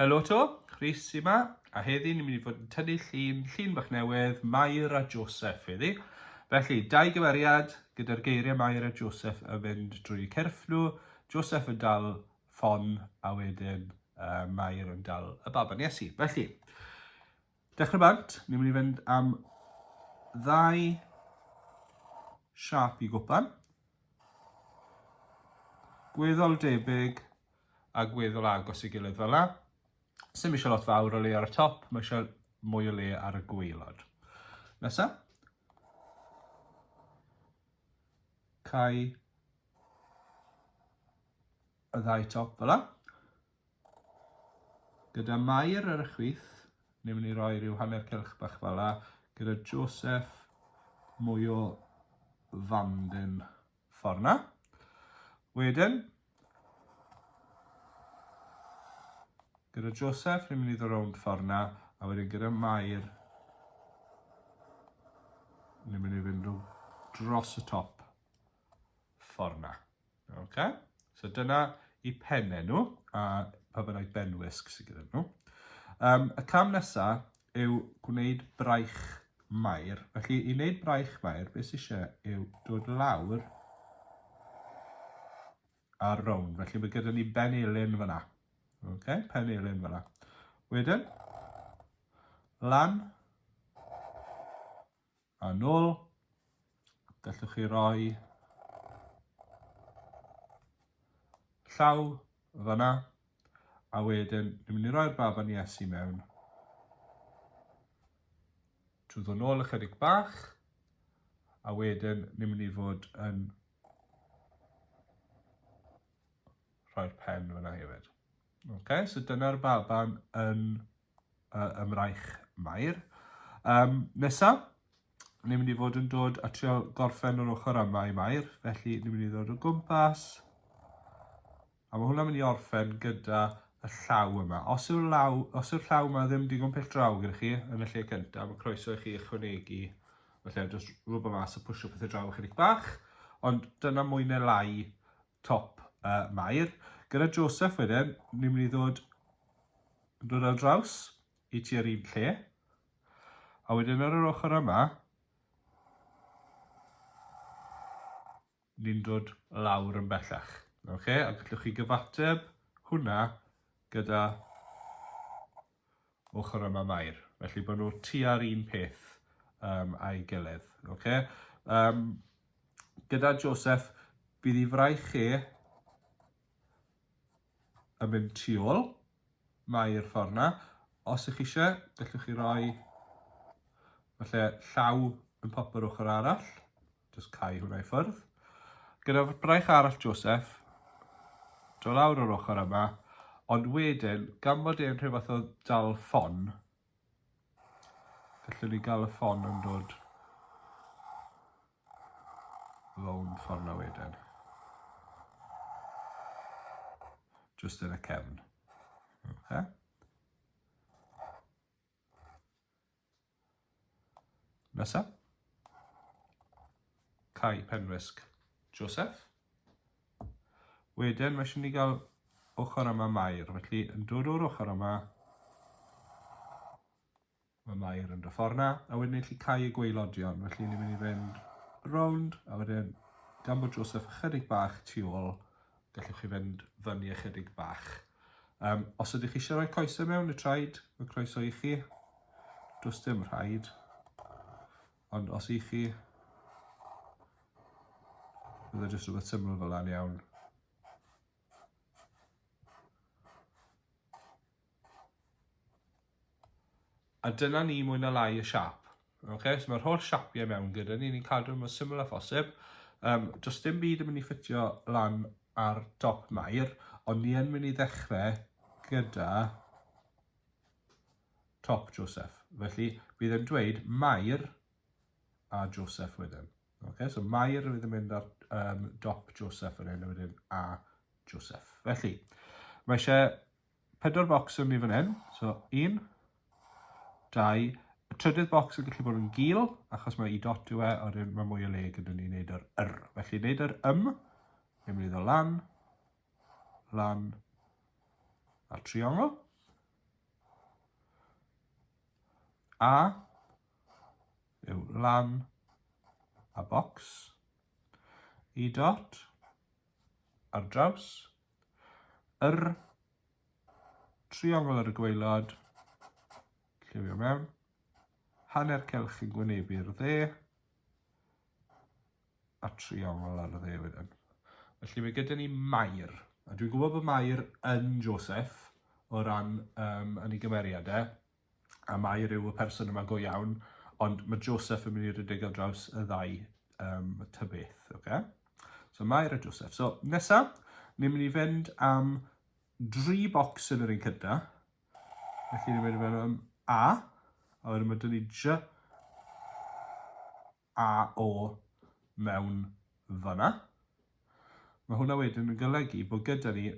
Helo to, Rhys yma, a heddi ni'n mynd i fod yn tynnu llun, llun bach newydd, Mair a Joseph heddi. Felly, dau gymeriad gyda'r geiriau Mair a Joseph yn mynd drwy cyrff nhw, Joseph yn dal ffon a wedyn uh, Mair yn dal y baban Iesu. Felly, Dechrau bant, ni'n mynd i fynd am ddau siap i gwpan. Gweddol debyg a gweddol agos i gilydd fel la. Sym eisiau lot fawr o le ar y top, mae eisiau mwy o le ar y gweilod. Nesa. Cai y ddau top fel la. Gyda Mair ar y chwith, ni'n mynd i roi rhyw hanner cylch bach fala, gyda Joseph mwy o fandyn ffordd na. Wedyn, gyda Joseph, ni'n mynd i ddod rownd ffordd na, a wedyn gyda Mair, ni'n mynd i fynd dros y top ffordd na. Ok, so dyna i penne nhw, a pa bynnag benwisg sydd gyda nhw. Um, y cam nesaf yw gwneud braich mair. Felly, i wneud braich mair, beth sydd eisiau yw dod lawr ar rown. Felly, mae gyda ni ben elin fyna. Ok, pen elin fyna. Wedyn, lan, A nôl, gallwch chi roi llaw fanna, a wedyn ni'n mynd i roi'r baban Iesu mewn. Trwy ddod nôl ychydig bach, a wedyn ni'n mynd i fod yn rhoi'r pen fanna hefyd. Okay, so dyna'r baban yn uh, ym Mraich Mair. Um, nesa, ni'n mynd i fod yn dod a trio gorffen o'r ochr yma i Mair, felly ni'n mynd i ddod o gwmpas. A mae hwnna'n mynd i orffen gyda y llaw yma. Os yw'r llaw, os yw'r llaw yma ddim digon pell draw gyda chi yn y lle cyntaf, mae croeso i chi ychwanegu, felly jyst rhywbeth mas a pwysio pethau draw ychydig bach, ond dyna mwy neu lai Top uh, Mair. Gyda Joseph wedyn, ni'n mynd i ddod, dod ar draws i ti ar un lle. A wedyn ar yr ochr yma, ni'n dod lawr yn bellach. Okay? A gallwch chi gyfateb hwnna gyda ochr yma Mair, felly bod nhw tua'r un peth um, a'i gilydd. Okay? Um, gyda Joseph, bydd ei fraich chi yn mynd tu ôl, mae'r ffordd yna. Os ych chi eisiau, gallwch chi roi falle llaw yn popio'r ochr arall. Jyst cau hwnna i ffwrdd. Gyda braich arall Joseph, do lawr o'r ochr yma, ond wedyn, gan bod e'n rhyw fath o dal ffon, gallwn ni gael y ffon yn dod rown ffordd na wedyn. Just yn y cefn. Okay. Nesa. Cai Penrysg. Joseph. Wedyn mae eisiau ni gael ochr yma Mair, felly yn dod o'r ochr yma, mae Mair yn dy ffordd na, a wedyn ni'n gallu cau y gweilodion, felly ni'n mynd i fynd rownd, a wedyn gan bod Joseph ychydig bach tu ôl, Gallwch chi fynd fyny ychydig bach. Um, os ydych chi eisiau rhoi coesau mewn y traed, mae croeso i chi. Does dim rhaid. Ond os i chi, bydd e jyst rhywbeth syml fel a'n iawn. A dyna ni mwy na lai y siap. Okay? So mae'r holl siapiau mewn gyda ni, ni'n cadw mor syml a phosib. Um, does dim byd yn mynd i ffitio lan ar dop mair, ond ni yn mynd i ddechrau gyda top Joseph. Felly, bydd yn dweud mair a Joseph wedyn. Okay, so mair fydd yn mynd ar um, dop Joseph yn hyn wedyn a Joseph. Felly, mae eisiau Pedwar bocs yn ni fan hyn, so un, dau, y trydydd bocs yn gallu bod yn gil, achos mae i dot yw e, a wedyn mae mwy o le gyda ni wneud yr yr. Felly wneud yr ym, ni'n mynd i ddod lan, lan, a triongl. A yw lan a bocs. I dot ar draws yr triongl ar y gwaelod, lliwio mewn, hanner cylch yn gwynebu'r dde, a triongl ar y dde wedyn. Felly mae gyda ni Mair, a dwi'n gwybod bod Mair yn Joseph o ran um, yn ei gymeriadau, a Mair yw y person yma go iawn, ond mae Joseph yn mynd i rhedeg ar draws y ddau um, ta beth, oce? Okay? So Mair a Joseph. So nesaf, ni'n mynd i fynd am dri bocs yn yr un cynta. Felly ni'n mynd i fynd am A, a wedyn mae dyn ni J, a o mewn fan'na. Mae hwnna wedyn yn golygu bod gyda ni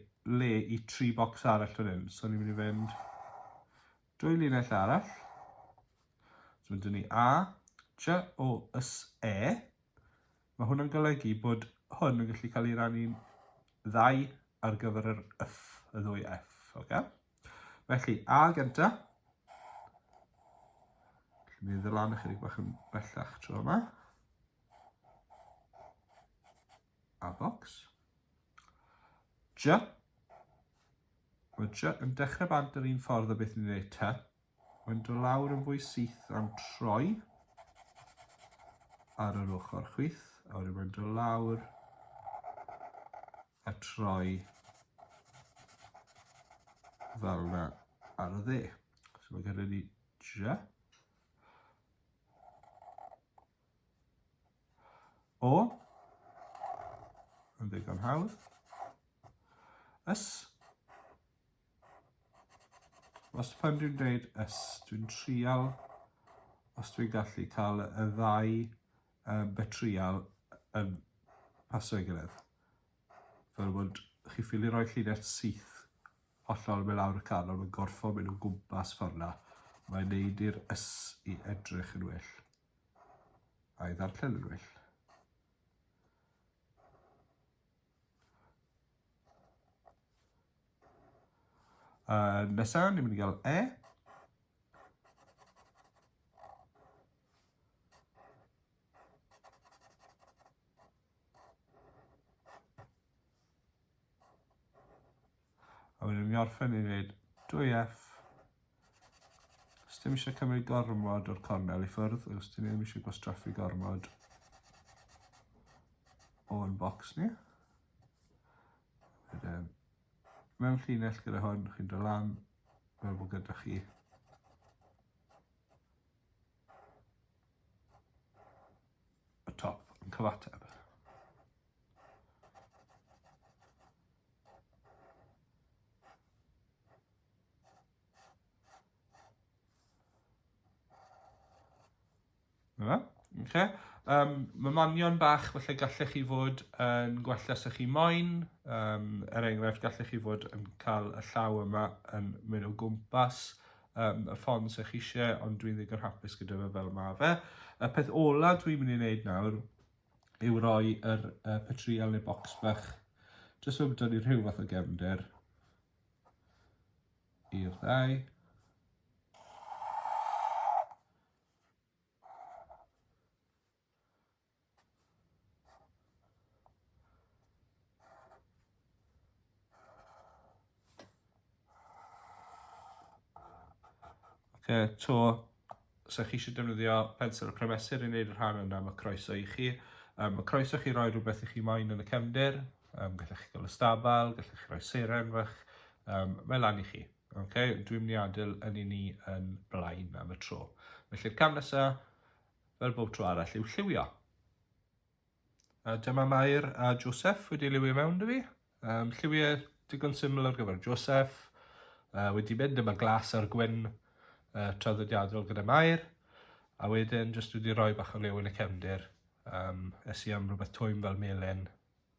le i tri bocs arall fan hyn. So ni'n mynd i fynd dwy linell arall. So mae dyn ni A, J, O, S, E. Mae hwnna'n golygu bod hwn yn gallu cael ei rannu'n ddau ar gyfer yr F, y ddwy F. Okay? Felly, A gynta. Dwi'n mynd lan ychydig bach yn bellach tro yma. A box. J. Mae J yn dechrau bant yr un ffordd o beth ni'n gwneud T. Mae'n dod lawr yn fwy syth am troi ar yr ochr chwith, a wedyn mae'n dod lawr a troi fel yna ar y dde. So mae gyda ni dra. O, yn ddigon hawdd. Ys, Os pan dwi'n dweud ys, dwi'n trial os dwi'n gallu cael y ddau uh, betrial yn paso ei gilydd. Fel bod chi ffili rhoi llinell syth hollol mewn lawr y can, ond mae'n gorfod mynd o gwmpas ffordd na. Mae'n neud i'r ys i edrych yn well. A'i ddarllen yn well. Uh, nesa, ni'n mynd i gael E. A wedyn fi'n orffen i wneud 2F. Os dim eisiau cymryd gormod o'r cornel i ffwrdd, os dim ddim eisiau gwastraffu gormod o'n bocs ni. Wedyn, mewn llinell gyda hwn, chi'n dod lan, fel bod gyda chi y top yn cyfateb. Yna, okay. Um, mae manion bach, felly gallech chi fod yn gwella sy'ch chi moyn. Um, er enghraifft, gallech chi fod yn cael y llaw yma yn mynd o gwmpas um, y ffon sy'ch chi eisiau, ond dwi'n ddigon hapus gyda fe fel mae fe. Y peth ola dwi'n mynd i wneud nawr yw roi yr uh, patrial neu bocs bach jyst fel bod ni rhyw fath o gefnder i'r ddau. Oce, to, os ydych chi eisiau defnyddio pensel y cremesur i wneud y rhan yna, mae croeso i chi. Um, mae croeso chi roi rhywbeth i chi moyn yn y cefndir, um, gallech chi gael y stabal, gallech chi roi seren fach, um, mae lan i chi. Okay? Dwi'n mynd i adael yn i ni yn blaen am y tro. Felly'r cam nesaf, fel bob tro arall, yw lliwio. A dyma Mair a Joseph wedi liwio mewn dy fi. Um, lliwiau digon syml ar gyfer Joseph. Uh, wedi mynd yma glas ar gwyn uh, traddodiadol gyda Mair. A wedyn jyst wedi rhoi bach o liw yn y cefndir. Um, es i am rhywbeth twym fel melin,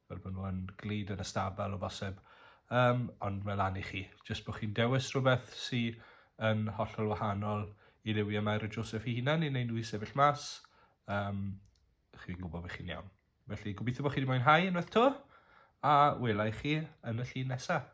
fel bod nhw'n glid yn y stabl o bosib. Um, ond mae lan i chi. Jyst bod chi'n dewis rhywbeth sy'n yn hollol wahanol i liwiau Mair a Joseph i hunan i wneud nhw i sefyll mas. Um, chi'n gwybod bod chi'n iawn. Felly, gobeithio bod chi wedi mwynhau unwaith to, a wela i chi yn y llun nesaf.